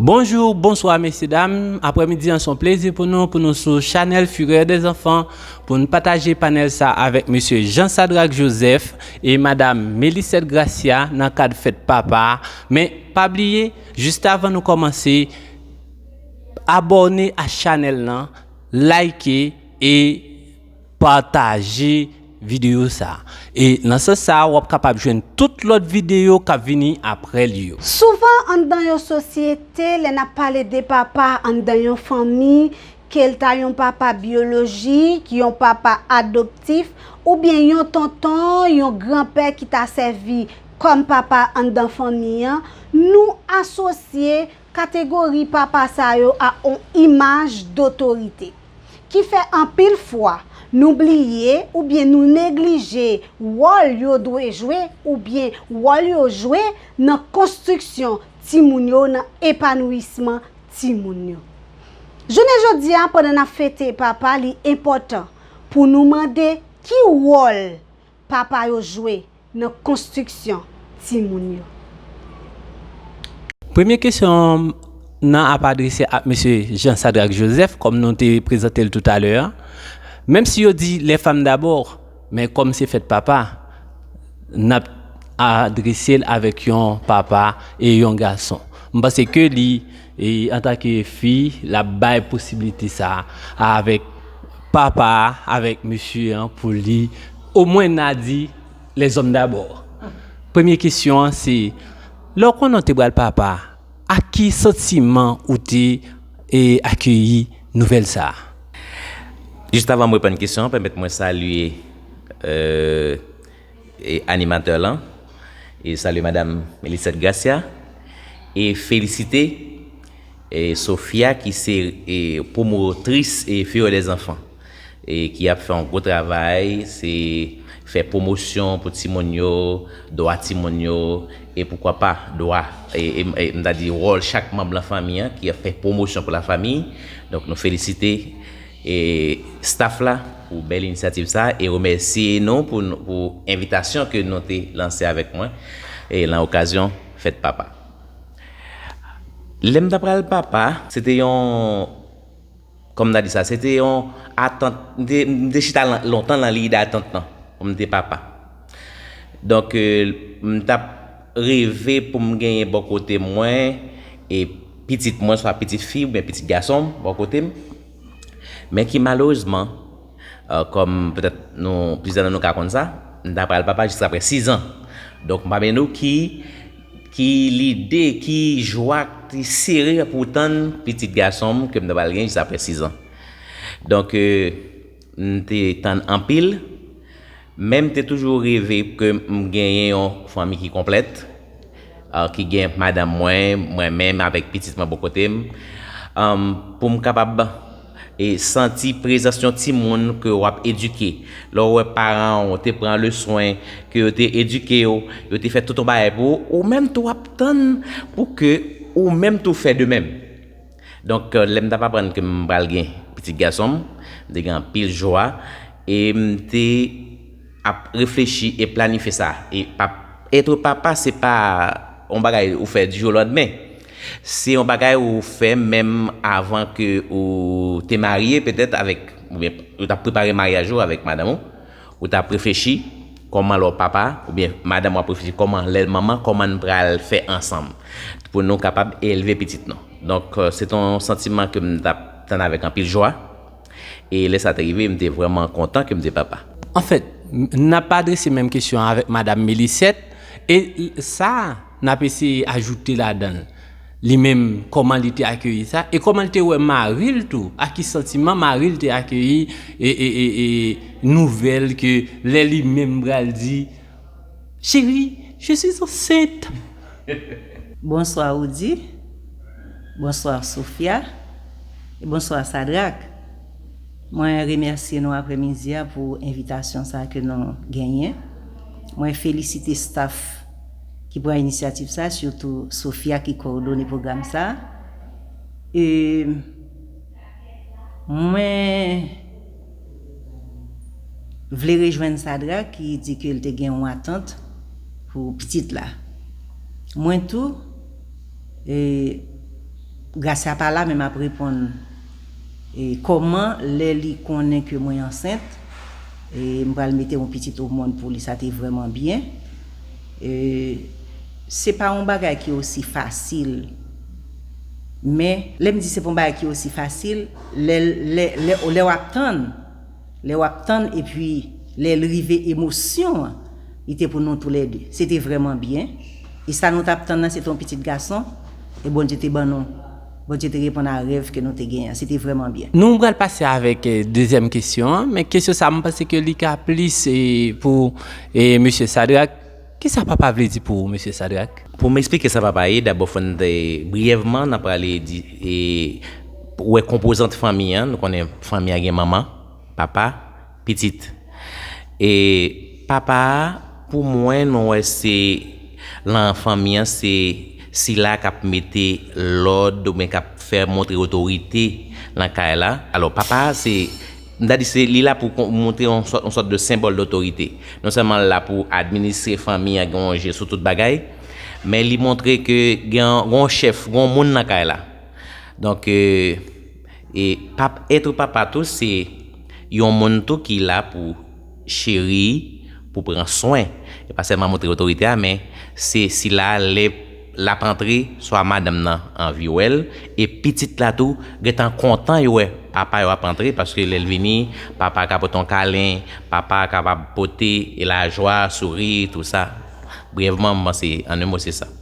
Bonjour bonsoir mesye dam aprèmidi an son plezi pou nou pou nou sou chanèl fureur des enfants pou nou pataje panèl sa avèk mesye Jean Sadrac Joseph E madam Mélisette Gracia nan kad fèt papa a men pa bliye juste avan nou kòmanse abòne a chanèl lan like e pataje videyo sa e nan sans sa wap kapab jwenn tout lòt videyo kap vini aprè li yo. Souvan anndan yon sosyete lè nap pale de papa anndan yon fanmi ke l ta yon papa byolojik, yon papa adoptif, oubyen yon tonton, yon granpè ki ta sèvi kòm papa anndan fanmi an, nou asosye kategori papa sa yo a on imaj dotorite. Ki fè anpil fwa, nou bliye oubyen nou neglije wòl yo dwe jwe oubyen wòl yo jwe nan konstriksyon timoun yo, nan epanouisman timoun yo. Jounen jodi a, pandan n ap fete papa, li enpòtan pou nou mande ki wòl papa yo jwe nan konstriksyon timoun yo. Premye kesyon nan ap adrese ak Mesye Jean Sadrac Joseph, kòm nou te prezante l toutalè a. Menm si yo di les femmes d'abord, men kòm se fèt papa, n ap adrese l avèk yon papa e yon gason. M panse ke li. E antake fi, l ap bay posibilite sa a avèk papa a, avèk mesye an pou li omwen n a di lèzòm dabò. Premye kesyon an se, lè w konnen w te pral papa, ak ki santiman ou te akeyi nouvèl sa a? Jistavan m reponn kesyon an, pèmèt mwen salye. E animatè lan e salye madam Melisette Gracia e felisite e Sophia ki se e pwomotris e Fureur des Enfants e ki ap fè yon gwo travay se fè pwomosyon pou timoun yo, dwa timoun yo e poukwa pa dwa e e m ta di wòl chak manb lan fanmi an ki ap fè pwomosyon pou la famiy donk nou felisite. E staff la pou bèl inisyativ sa e remèsye nou pou pou envitasyon ke nou te lanse avèk mwen e lan okazyon fèt papa. Lèm ta pral papa se te yon kòm ta di sa se te yon atant m te chita lontan lan liy datant lan pou m te papa. Donk m t ap reve pou m genyen bò kote mwen e pitit mwen swa pitit fi oubyen pitit gason m bò kote m men ki malerezman kòm petèt nou plizyè nan nou ka konn sa m ta pral papa jiskapre sizan donk m pa mande w ki ki lide ki jwa ki sere pou w tann pitit gason m ke m ta pral gen jiskapre sizan donk. M te tann anpil, men m te toujou reve ke m genyen yon fanmi ki konplèt, ki gen madanm mwen, mwen menm avèk pitit mwen bò kote m, pou m kapab santi prezans yon timoun ke w ap edike. Lè w wè paran w te pran le swen, ke yo te edike w, yo te fè tout yon bagay pou ou, ou menm tou w ap tann pou ke ou menm tou fè de menm. Donk, lè m t ap aprann ke m pral gen pitit gason m, m te gen anpil jwa e m te ap reflechi e planifye sa. E pa ètre papa se pa yon bagay ou fè di jou o landemen. Se yon bagay ou fè menm avan ke ou te marye petèt avèk oubyen ou t ap prepare maryaj ou avèk madanm ou. Ou tap reflechi Koman lè w papa oubyen madanm w ap reflechi koman lè l manman koman n pral fè ansanm pou nou kapab elve pitit nou donk se te yon santiman ke m t ap tann avèk anpil jwa e lè sa te rive m te vrèman kontan ke m te papa. Anfèt, n ap adrese menm kesyon an avèk Madam Mélisette e sa. N ap eseye ajoute ladan l, li menm, kòman li te akeyi sa, e kòman l te wè mari l tou, ak ki santiman mari l te akeyi nouvèl ke lè li menm pral di, Cheri, je suis enceinte! Bonswa Roody, bonswa Sophia, e bonswa Sadrack. Mwen remèsye nou aprè midi a pou envitasyon sa ke nou genyen. Mwen felisite staff. ki pran inisyativ sa, sitou Sofia ki kowodone pwogram sa. E mwen vle rejwenn Sadra ki di ke l te gen yon atant pou pitit la. Mwen tou, Gracia pa la men m ap reponn kòman lè li konnen ke mwen ansent. M pral mete yon pitit o mond pou li sa te vreman byen se pa yon bagay ki osi fasil men lè m di se pa yon bagay ki osi fasil lè w ap tann lè w ap tann epi lè l rive emosyon an li te pou nou tou lè 2 se te vreman byen e sa nou t ap tann nan se te yon pitit gason e Bondye te ban nou. Bondye te reponn a rèv ke nou te genyen an. Se te vrèman byen. Nou pral pase avèk dezyèm kesyon an, men kesyon sa mwen panse ke li ka plis pou Mesye Sadrack. Kisa papa vle di pou ou Mesye Sadrack? Pou m eksplike sa papa ye, dabò fò n briyèvman nan prale di wè konpozant fanmi an. Nou konnen fanmi an gen manman, papa. Pitit. E papa a pou mwen nou wè se lan fanmi an se sila k ap mete lòd oubyen k ap fè montre otorite lan kay la. Alò papa a se m ta di se li la pou kon montre yon sòt yon sòt de senbòl dotorite. Non sèlman l la pou administre fanmi an gen yon je sou tout bagay men li montre ke gen yon gen yon chèf gen yon moun lan kay la. Donk E pap être papa tou se Yon moun tou ki la pou Cheri, pou pran swen. E pa sèlman montre otorite a men se sila a lè lap antre swa madanm nan anvi wèl e pitit la tou gentan kontan yo wè papa yo ap antre paske lèl vini papa ka pote yon kalen papa kapab pote lajwa souri tou sa brèvman m panse an 1 mo se sa.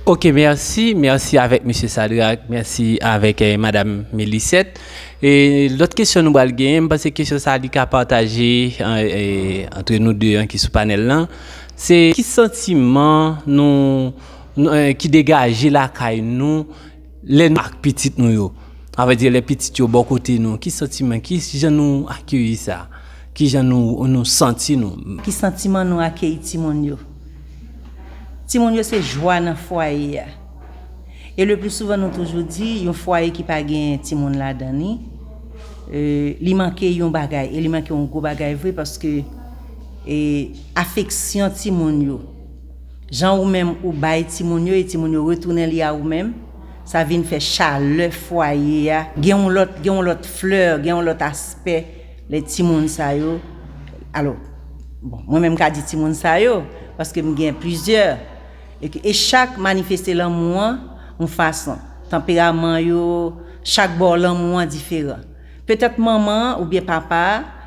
Ok merci merci avèk mesye Sadrac merci avèk madam Mélisette e lòt kesyon nou bal genyen m panse kesyon sa li ka pataje antre nou 2 an ki sou panèl lan se ki santiman nou ki degaje lakay nou Lè nou ak pitit nou yo, avèdye lè pitit yo bò kote nou, ki santiman, ki jan nou akeyi sa? Ki jan nou santi nou? Ki santiman nou akeyi timoun yo? Timoun yo se jwa nan fwaye a. E lepli souvan nou toujou di, yon fwaye ki pa gen timoun ladan li, li manke yon bagay, e li manke yon gwo bagay vre paske afeksyon timoun yo, Jan ou menm ou bay timoun yo e timoun yo retounen li a ou menm, sa vin fè chalè fwaye a gen yon lòt gen yon lòt fleur, gen yon lòt aspè lè timoun sa yo alo bon mwen menm m ka di timoun sa yo paske m gen plizyè e e chak manifeste lanmou an yon fason tanperaman yo chak bò lanmou an diferan. Petèt manman an oubyen papa a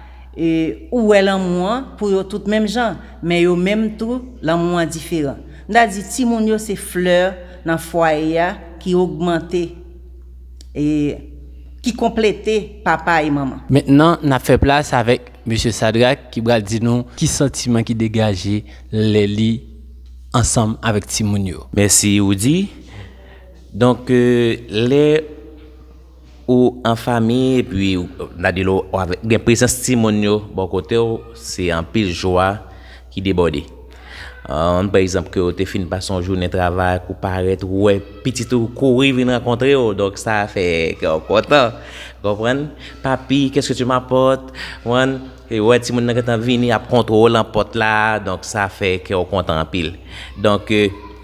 ou wè lanmou an pou yo tout menm jan, men yo menm tou lanmou an diferan. M ta di timoun yo se flè nan fwaye a ki ogmante, ki konplete papa e manman. Mentnan n ap fè plas avèk Mesye Sadrak ki pral di nou ki santiman ki degaje lè li ansanm avèk timoun yo. Mèsi Roody. Donk lè. Ou an fami epi nan di lou gen prezans timoun yo bò kote w se anpil jwa ki debòde. An pa egzanp ke ou te fin pase yon jounen travay ak ou parèt ou wè pitit ou kouri vin rankontre w donk sa fè kè w kontan. Konprann? Papi, kèske ti mapòte? Konprann? Epi wè timoun nan gentan vini ap kontrew lan pòt la donk sa fè kèw kontan anpil donk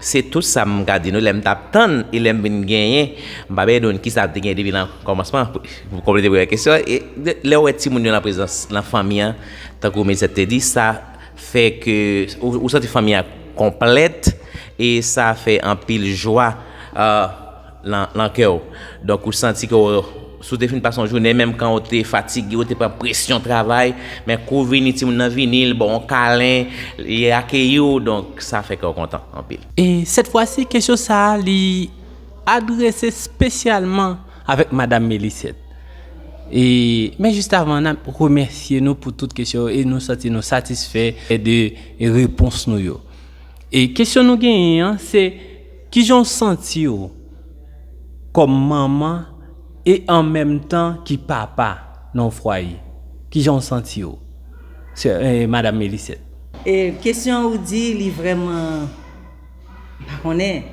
se tout sa m ka di nou lèm tap tann e lèm vin genyen m pa bay nou kisa te gen depi lan kòmansman pou konplete premyè kesyon e lèw wè timoun yo lan prezans lan fanmi an tankou Melissette te di sa fè ke ou santi fanmi an konplèt e sa fè anpil jwa. lan kè w. Donk ou santi ke w si w te fin pase yon jounen menm kan w te fatige w te pran presyon travay men kou w vini timoun nan vini li ba w yon kalen li akeyi w donk sa fè kè w kontan anpil. E sèt fwa si kesyon sa a li adrese spesyalman avèk madam Mélisette. E men jis avan n ap remèsye nou pou tout kesyon yo e nou santi nou satisfè de repons nou yo. E kesyon nou genyen an se. Ki jan w santi w kòm manman e an menm tan ki papa nan yon fwaye? Ki jan w santi w sè madam Mélisette? E kesyon an ou di li vrèman m pa konnen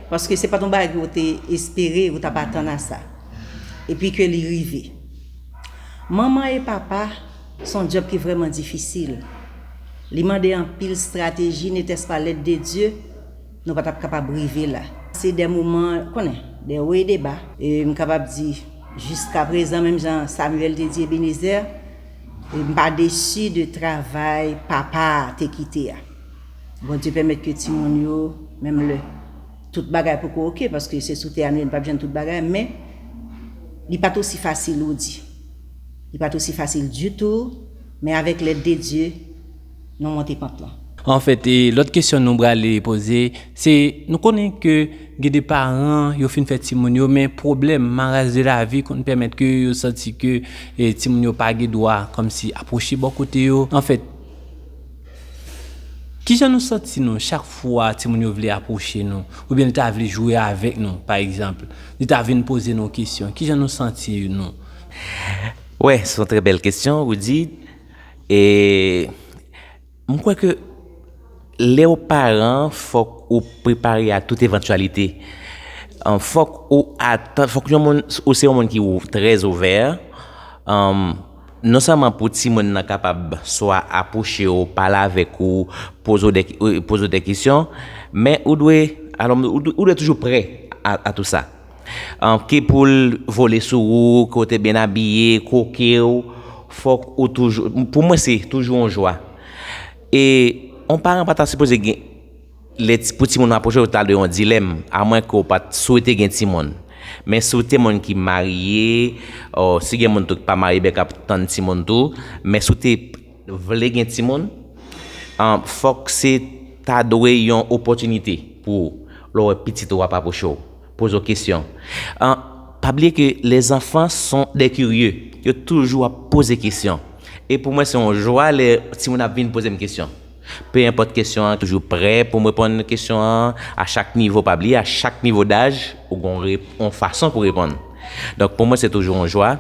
paske se pa t yon bagay ou te espere ou t ap atann a sa epi ke li rive. Manman e papa se yon djòb ki vrèman difisil li mande anpil strateji netès pa lèd de Dye Nou pa tap kapab rive la. Se de moman, konnen, de wo e de ba. E m kapab di, jiska prezan, menm jan Samuel te di Ebenezer, m pa desi de travay papa a te kite a. Bondye pèmèt ke timoun yo, menm lè tout bagay poko ok, paske se sou tè a nou ye, nou pap jwenn tout bagay, men li pat osi fasil ou di. Li pat osi fasil ditou, men avèk lèd de Dye, nou monte pant lan. Anfèt, lòt kesyon nou brale poze, se nou konnen ke gen de paran yo fin fè timoun yo men pwoblèm, maras de lavi konn pèmèt ke yo santi ke timoun yo pa gen dwa kòmsi apwoche bò kote yo. Anfèt, kijan nou santi nou chak fwa timoun yo vle apwoche nou oubyen li ta vle jwe avèk nou pa egzanp, li ta vin poze nou kesyon, kijan nou santi nou? Wè, se yon trè bèl kesyon, Rudy. E m kwè ke lè ou paran, fòk ou prepare a tout evantyalite. Fòk ou atan, fòk yon moun, ou se yon moun ki ou trè ouvè, non sèlman pou timoun nan kapab swa apwoche ou, pale avèk ou, poze ou de, poze ou de kesyon, men ou dwe, alon, ou dwe toujou prè a tou sa. Ki pou l vole sou ou, ke w te byen abiye, kwoke w, fòk ou toujou, pou mwen se toujou yon jwa. E yon paran pa ta sipoze gen, lè ti, pou timoun nan apwoche w, ta dwe yon dilèm, a mwen ke w pa t swete gen timoun. Men si w te moun ki marye, si gen moun tou ki pa marye byen k ap tann timoun tou, men si w te. vle gen timoun fòk se ta dwe yon opòtinite pou ou lè w wè pitit ou ap apwoche w poze w kesyon pa bliye ke lèzanfan son dè kirye yo toujou ap poze kesyon e pou mwen se yon jwa lè timoun ap vin poze m kesyon pe enpòt kesyon an toujou prè pou m reponn kesyon an a chak nivo pa bliye a chak nivo daj ou gon yon fason pou reponn donk pou mwen se toujou yon jwa.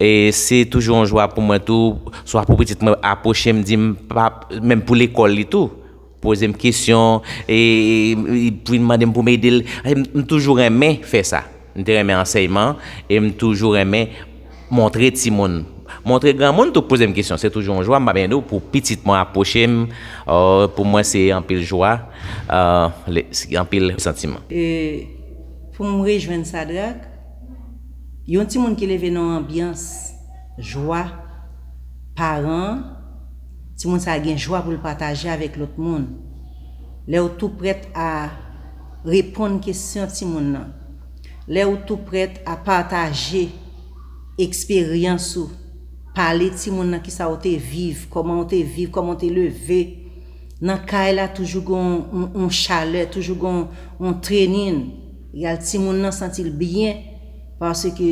E se toujou yon jwa pou mwen tou, swa pou pitit mwen apwoche m di m pa, menm pou lekòl li tou, poze m kesyon, e pou vin mande m pou m ede l. M toujou renmen fè sa. M te renmen ansèyman e m toujou renmen montre timoun. Montre granmoun tou k poze m kesyon. Se toujou yon jwa, m pa byen di w, pou pitit mwen apwoche m. Pou mwen se anpil jwa, anpil santiman. E pou m rejwenn Sadrak. Yon timoun ki leve nan yon anbyans jwa paran an, timoun sa a gen jwa pou l pataje avèk lòt moun. Lè ou tou prèt a reponn kesyon timoun nan, lè ou tou prèt a pataje eksperyans ou, pale timoun nan kisa ou te viv, kòman ou te viv, kòman ou te leve, nan kay la toujou gen yon chalè, toujou gen yon trenin. Real timoun lan santil byen paske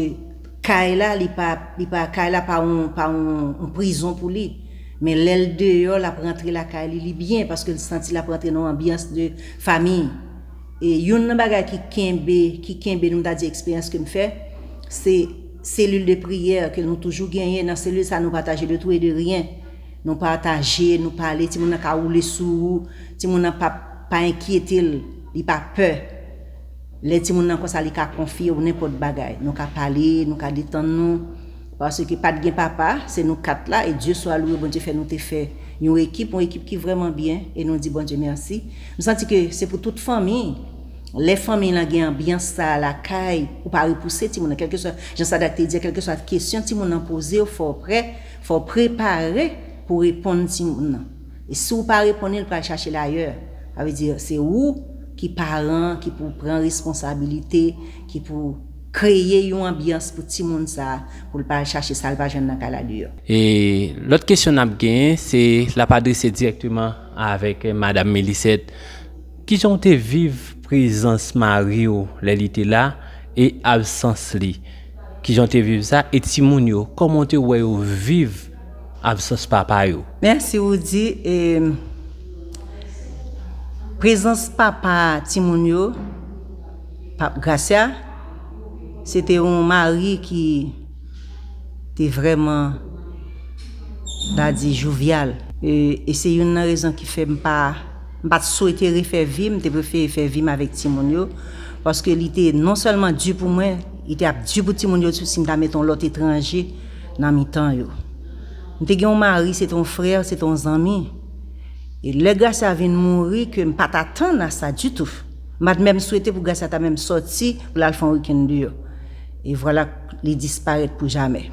kay la li pa li pa kay la pa yon pa yon prizon pou li men lèl deyò lap rantre lakay li li byen paske li santi lap rantre nan yon anbyans de fami e youn nan bagay ki kenbe ki kenbe nou ta di eksperyans kem fè se selil de priyè ke nou toujou genyen nan selil sa nou pataje de tou e de ryen nou pataje nou pale timoun nan ka woule sou ou timoun nan pap Pa enkyete l, li pa pè. Lè timoun nan konsa li ka konfye w nenpòt bagay. Nou ka pale, nou ka detann nou. Paske pa t gen papa, se nou kat la e Dye swa louwe Bondye fè nou te fè yon ekip, yon ekip ki vrèman byen e nou di Bondye mèsi. M santi ke se pou tout fanmi. Lè fanmi lan gen anbyans sa a lakay, ou pa repouse timoun nan. Kèlkeswa, jan Sadak te di a, kèlkeswa kesyon timoun nan poze w, fò w prè, fò w prepare pou w reponn timoun nan. E si w pa reponn li, li pral chache l ayè. Sa vle di, se ou ki paran an ki pou w pran responsabilite, ki pou w kreye yon anbyans pou timoun sa a, pou l pa al chache sa l pa jwenn nan kay la deyò. E lòt kesyon n ap genyen, se l ap adrese dirèkteman avèk Madam Mélisette, Ki jan w te viv prezans mari w lè li te la e absans li? Ki jan w te viv sa? E timoun yo, kòman w te wè yo viv? Absans papa yo. Merci Roody e prezans papa timoun yo pap Gracia se te yon mari ki te vrèman ta di jovial e se youn nan rezon ki fè m pa m pat swete refè vi m te prefere fè vi m avèk timoun yo paske li te non sèlman di pou mwen li te ap di pou timoun yo tou si m ta met yon lòt etranje nan mitan yo. M te gen yon mari, se te yon frè, se te yon zanmi. E lè Gracia vin mouri, ke m pa t atann a sa ditou. M pa t menm swete pou Gracia ta menm sòti pou l al fè yon wikenn deyò. E vwala k li disparèt pou jamè.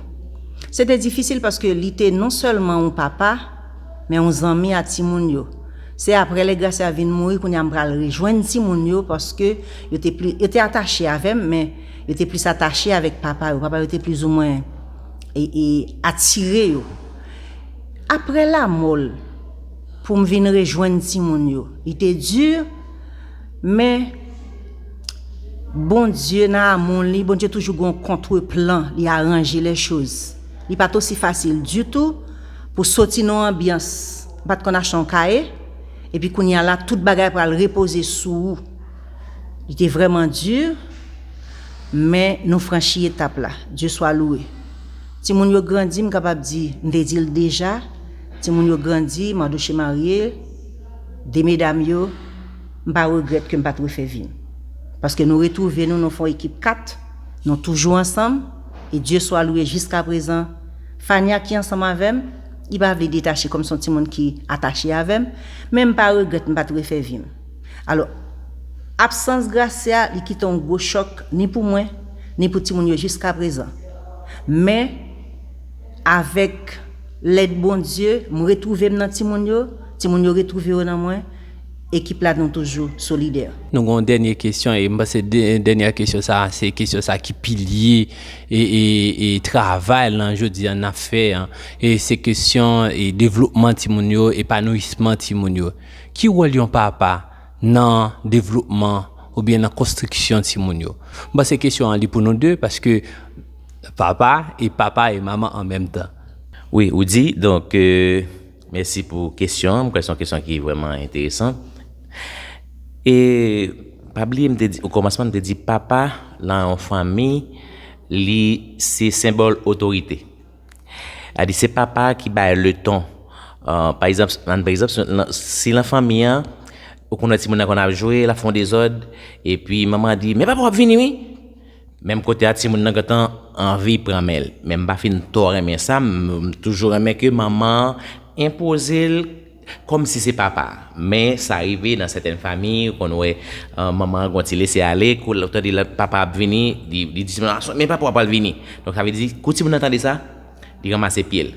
Se te difisil paske li te non sèlman yon papa, men yon zanmi a timoun yo. Se aprè lè Gracia vin mouri kounye a m pral rejwenn timoun yo paske yo te pli, yo te atache avè m men, Yo te plis atache avèk papa yo, papa yo te plizoumwen atire yo. Apre lanmò l, pou m vin rejwenn timoun yo, li te di, men Bondye nan amou li, Bondye toujou gen yon kontre plan, li aranje lè choz. Li pa t osi fasil ditou pou soti nan yon anbyans, m pa t konn achte yon kaye, epi kounye a la tout bagay pral repoze sou ou. Li te vrèman dur, men nou franchi etap la. Dieu soit loué. Timoun yo grandi, m kapab di, m te di l deja, timoun yo grandi, Mardochée marye, 2 medam yo, m pa regrèt ke m pa t refè vi m. Paske nou retwouve nou, nou fè yon ekip 4, nou toujou ansanm, e Dieu soit loué jiskaprezan, Fania ki ansanm avè m, li pa vle detache kòm se yon timoun ki atache avè m, men m pa regrèt m pa t refè vi m. Alò, absans Gracia li kite yon gwo chòk ni pou mwen, ni pou timoun yo jiskaprezan. Men, avèk lèd Bondye, m retwouve m nan timoun yo, timoun yo retwouve yo nan mwen, ekip la nou toujou solidè. Nou gen yon dènye kesyon e m panse dènyè kesyon sa a se kesyon sa ki pilye e travay lan jodi an n ap fè an. E se kesyon devlopman timoun yo, epanouyisman timoun yo. Ki wòl yon papa nan devlopman oubyen nan konstriksyon timoun yo? M panse kesyon an li pou nou 2 paske papa e papa e manman an menm tan. Wi ou di, donk mèsi pou kesyon an, m kwè se yon kesyon ki vrèman enteresan. E pa bliye m te di okòmansman m te di papa nan yon fanmi li se senbòl otorite. Adi se papa ki bay le ton. Pa egzanp, nan pa egzanp, si nan fanmi an, ou konn wè timoun nan konn ap jwe, l ap fè yon dezòd, epi manman an di, men papa w ap vini wi! Menm kote a timoun nan gentan anvi pran men l. Men m pa fin twò renmen sa, m toujou renmen ke manman an enpoze l. Kòm si se papa a. Men sa rive nan sèten famiy ou konn wè manman an gon ti lese ale kou lap tande papa ap vini li di ti moun lan men papa w ap pral vini donk sa vle di kou ti moun lan tande sa li ranmase pye l.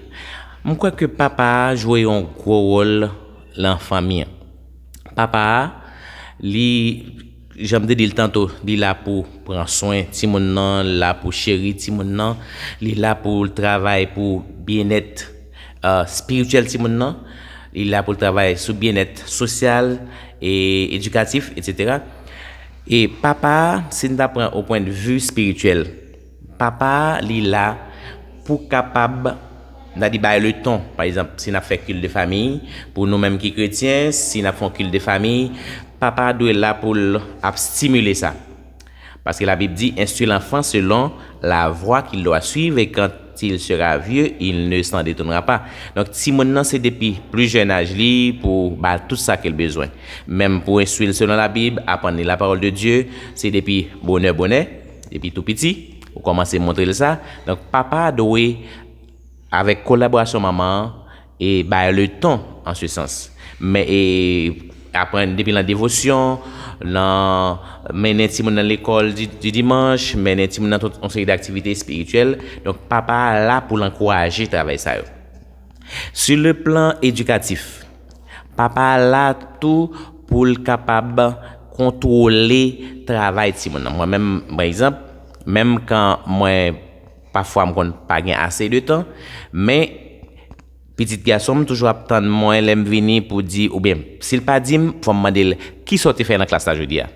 M kwè ke papa a jwe yon gwo wòl lan fanmi an. Papa a li. Janm te dil tanto li la pou pran swen timoun nan la pou cheri timoun nan li la poul travay pou byenèt spirityèl timoun nan li la poul travay sou byenèt sosyal e edikatif etc e papa a sin ta pran o pwendvi spirityèl Papa li la pou kapab nan li bay leton. Pa egzanp, si n ap fè kilt de fami, pou nou menm ki kretyen, si n ap fè yon kilt de fami, papa a dwe la pou l ap stimile sa. Paske Labib di, Enstwi lanfan selon lavwa ki l dwa swiv, e kant il sera vye, il ne san detounra pa. Donk, timoun nan se depi pli jèn aj li pou w ba l tout sa ke l bezwen. Menm pou enstwi l selon Labib, aprann li lapawòl de Dye, se depi bonè bonè. Depi tou piti, ou kòmanse montre l sa, donk papa a dwe, avèk kolaborasyon manman an, e bay leton an se sans. Men e aprann depi nan devosyon, nan mennen timoun nan lekòl di dimanch, mennen timoun nan tout yon seri daktivite espirityèl, donk papa a la pou l ankouraje travay sa yo. Sou le plan edikatif. Papa a la tou pou l kapab kontwole travay timoun nan. Mwen menm, pa egzanp, menm kan mwen pafwa m konn pa gen ase de tan, men pitit gason m toujou ap tann mwen lè m vini pou di oubyen si l pa di m fò m mande l, kisa w te fè nan klas la jodi a?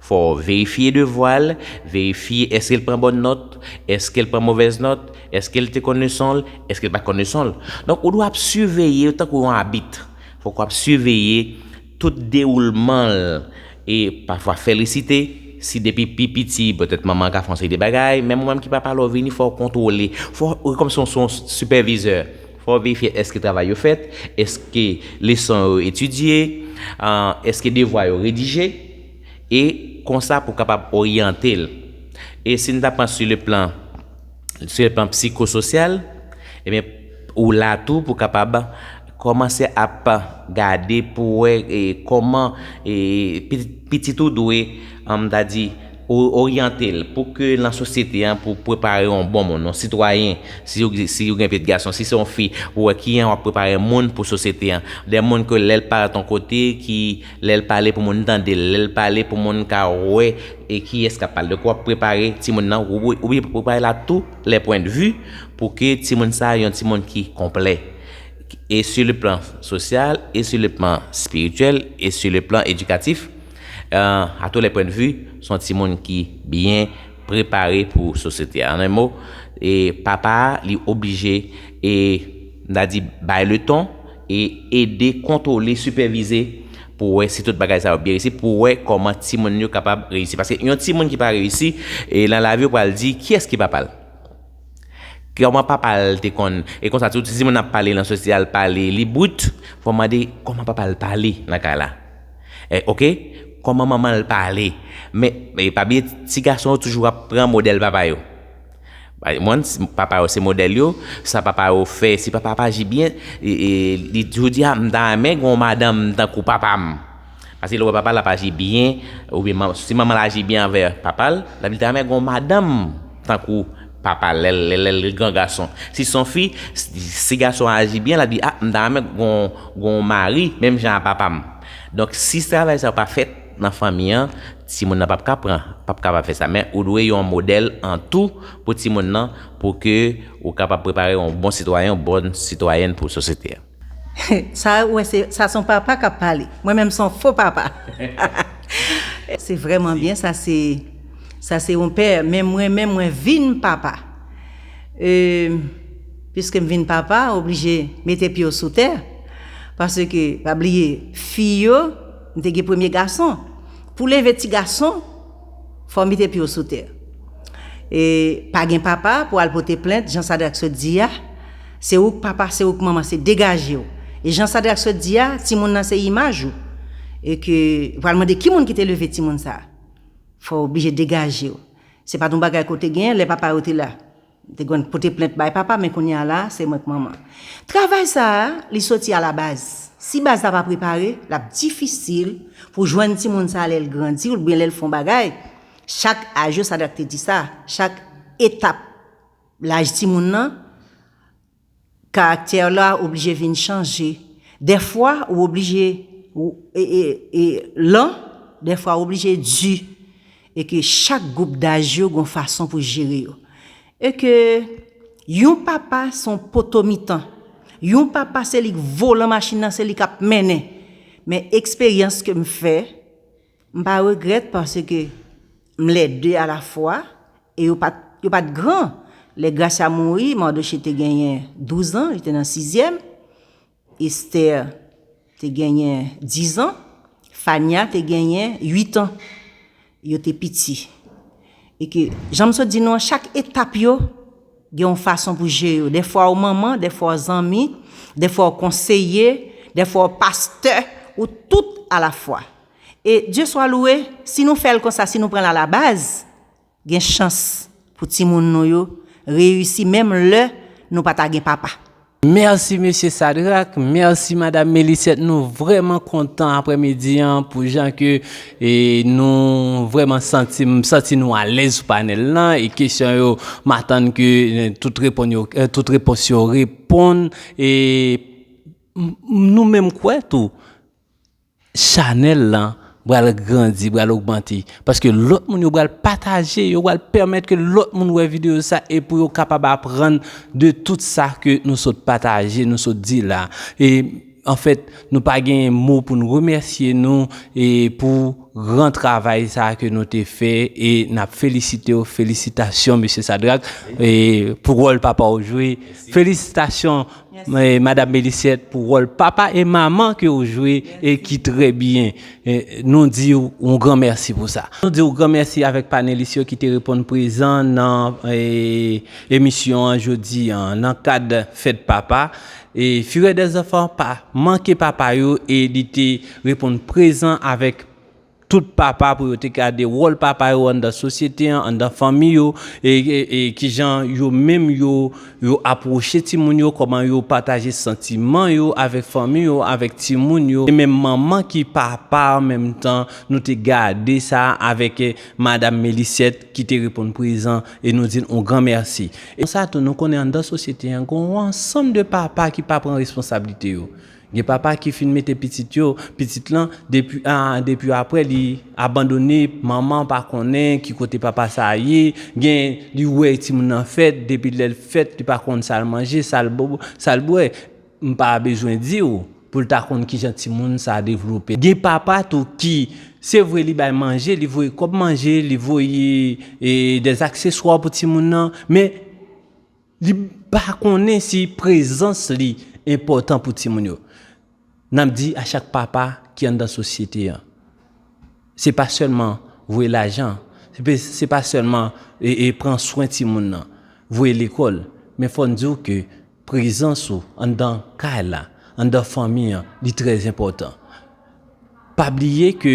Fò w verifye devwa l, verifye èske l pran bòn nòt, èske l pran movèz nòt, èske l te konn leson l, èske l pa t konn leson l. Donk ou dwe ap siveye l tankou yon abit. Fòk w ap siveye tout dewoulman l e pafwa fè l resite. Si depi pi piti petèt manman an ka fè yon seri de bagay, menm ou menm ki papa lè w vini fò w kontwole. Fò w, ou kòmsi w son sipèvizè. Fò w verifye èske travay yo fèt, èske leson yo etidye, èske devwa yo redije, e konsa pou w kapab oryante l. E si n ta pran si le plan si le plan psikososyal, ebyen ou la tou pou w kapab kòmanse ap gade pou w wè kòman pitit ou dwe, m ta di. Pou oryante l, pou ke lan sosyete an, pou prepare yon bon moun, yon sitwayen, si yo, si yo gen pye t gason, si se yon fi, pou wè kiyan w ap prepare moun pou sosyete an. De moun ke lè l paret yon kote, ki, lè l pale pou moun tande l, lè l pale pou moun ka wè e kiyès k ap pale. Donk w ap prepare timoun nan, w ou oubyen pou prepare l a tou lè pwen de vi, pou ke timoun sa a yon timoun ki konplè, e si le plan sosyal, e si le plan spirityèl, e si le plan edikatif. A tou lè pwen de vi, son ti moun ki byen prepare pou sosyete a. An en mo, e papa a li oblije e m ta di bay le ton e ede kontwole, sipèvize pou wè si tout bagay sa yo byen resi, pou wè kòman ti moun yo kapab reyisi. Paske yon ti moun ki pa reyisi, e lan lavi yo pral di kiyès ki papa l? Kòman papa l te konn e konsa tou si moun ap pale nan sosyal pale li brut fò w mande kòman papa l pale nan kay la ok kòman manman l pale men pa bliye ti gason yo toujou ap pran modèl papa yo moun papa yo se modèl yo sa papa yo fè si papa pa aji byen li toujou di a m ta renmen gen yon madanm tankou papa m. Paske lè w wè papa l ap aji byen, oubyen si manman l aji byen anvè papa l, sa vle di ta renmen gen yon madanm tankou papa l lè l gran gason. Si s on fi, si gason an aji byen, l ap di a m ta renmen gen yon mari menm jan a papa m. Donk si travay sa yo pa fèt nan fanmi an, timoun nan pap ka pran, pap kapab fè sa. Men ou dwe yon modèl an tou pou timoun nan pou ke ou kapab prepare yon bon sitwayen, yon bòn sitwayèn pou sosyete a. Sa ou wè se sa son papa kap pale mwen menm son fo papa hahaha se vrèman byen sa se sa se yon pè men mwen menm mwen vin papa euh piskem vin papa oblije mete pyew sou tè paske pa bliye fi yo m te gen premye gason pou leve ti gason fòw mete pyew sou tè e pa gen papa pou al pote plent jan Sadrac sot di a Se ouk papa se ouk manman se degajew e jan Sadrak sot di a timoun nan se imaj ou e ke pral mande ki moun ki te leve timoun sa fòw oblije degajew se pat yon bagay ke w te gen lè papa yo te la m te konn pote plent bay papa men kounya la se mwen k manman travay sa li soti a la baz si baz la pa prepare lap difisil pou jwenn timoun sa lèl grandi oubyen lèl fon bagay chak aj yo Sadrak te di sa chak etap. Laj timoun nan, karaktè la oblije vin chanje. Dèfwa ou oblije lan, dèfwa ou oblije di. E ke chak gwoup daj yo gon fason pou jere yo. E ke yon papa son poto mitan. Yon papa se li k volan machin nan, se li k ap mennen. Men eksperyans ke m fè, M pa regrèt paske m les deux a la fwa e yo pat yo pat gran lè Gracia mouri Mardochée te genyen 12 ans li te nan sizyèm Esther te genyen 10 ans Fania te genyen 8 ans yo te piti e ke jan m sot di nou an chak etap yo Gen yon fason pou je yo. Dèfwa ou manman, dèfwa ou zanmi, dèfwa ou konseye, dèfwa ou pastè, ou tout alafwa. E Dye swa louwe, si nou fè l konsa, si nou pran l alabaz, gen chans pou timoun nou yo reyisi menm lè nou pa ta gen papa. Merci Mesye Sadrac, merci Madame Mélisette nou vrèman kontan aprè midi an pou jan ke nou vrèman santi m santi nou alèz sou panèl lan e kesyon yo m atann ke tout reponn yo tout repons yo reponn e nou menm kwè tou Chanèl lan bral grandi, bral ogmante, paske lòt moun yo bral pataje, yo bral pèmèt ke lòt moun wè videyo sa e pou yo kapab aprann de tout sa ke nou sot pataje, nou sot di la. E anfèt, nou pa genyen mo pou nou remèsye nou e pou gran travay sa ke nou te fè e nap felisitew, felisitasyon Mesye Sadrack e pou wòl papa ou jwe. Felisitasyon. Madame Meliciette pou rol papa e maman ke ou jwe e ki trè byen. Nou di ou yon gran mèsi pou sa. Nou di ou gran mèsi avèk panelis yo ki te reponn prezan nan emisyon an jodi an nan kad fèt papa. Fureur des enfants pa manke papa yo e li te reponn prezan avèk tout papa pou yo te gade wòl papa yo anndan sosyete an, anndan fanmi yo, e e ki jan yo menm yo yo apwoche timoun yo, kòman yo pataje santiman yo avèk fanmi yo, avèk timoun yo, e menm manman ki papa an menm tan, nou te gade sa avèk madam Melisyèt ki te reponn prezan e nou di l on gran mèsi. E konsa tou nou konnen anndan sosyete an gen on ansanm de papa ki pa pran responsablite yo, Gen papa ki fin mete pitit yo, pitit lan depi aa depi aprè li abandone manman pa konnen ki kote papa sa a ye, gen li wè timoun nan fèt depi lèl fèt li pa konn sal manje sal bo sal bwè m pa bezwen diw poul ta konn kijan timoun sa devlope. Gen papa tou ki se vre li bay manje li voye kòb manje li voye e dèzakseswa pou timoun nan men Li pa konnen si prezans li enpòtan pou timoun yo. N ap di a chak papa ki anndan sosyete an, se pa sèlman voye lajan, se pa sèlman pran swen timoun nan, voye lekòl, men fò n di w ke prezans ou anndan kay la, anndan fanmi an, li trè enpòtan. Pa bliye ke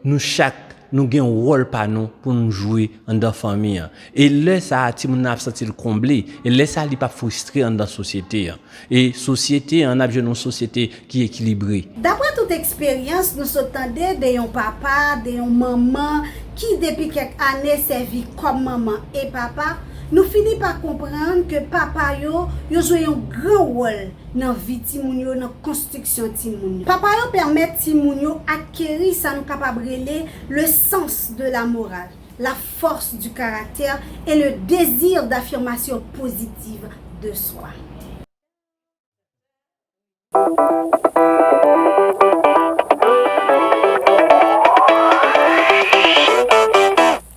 nou chak nou gen wòl pa nou pou nou jwe anndan fanmi an. E lè sa a timoun nan ap santi l konble. E lè sa a li p ap fristre anndan sosyete an. E sosyete an, n ap jwenn yon sosyete ki ekilibre. Dapre tout eksperyans nou sot tande de yon papa, de yon manman ki depi kèk ane sèvi kòm manman e papa, nou fini pa konprann ke papa yo, yo jwe yon gran wòl nan vi timoun yo, nan konstriksyon timoun yo. Papa yo pèmèt timoun yo akeri sa nou kapab rele le sens de la morale, la force du caractère et le désir d'affirmation positive de soi.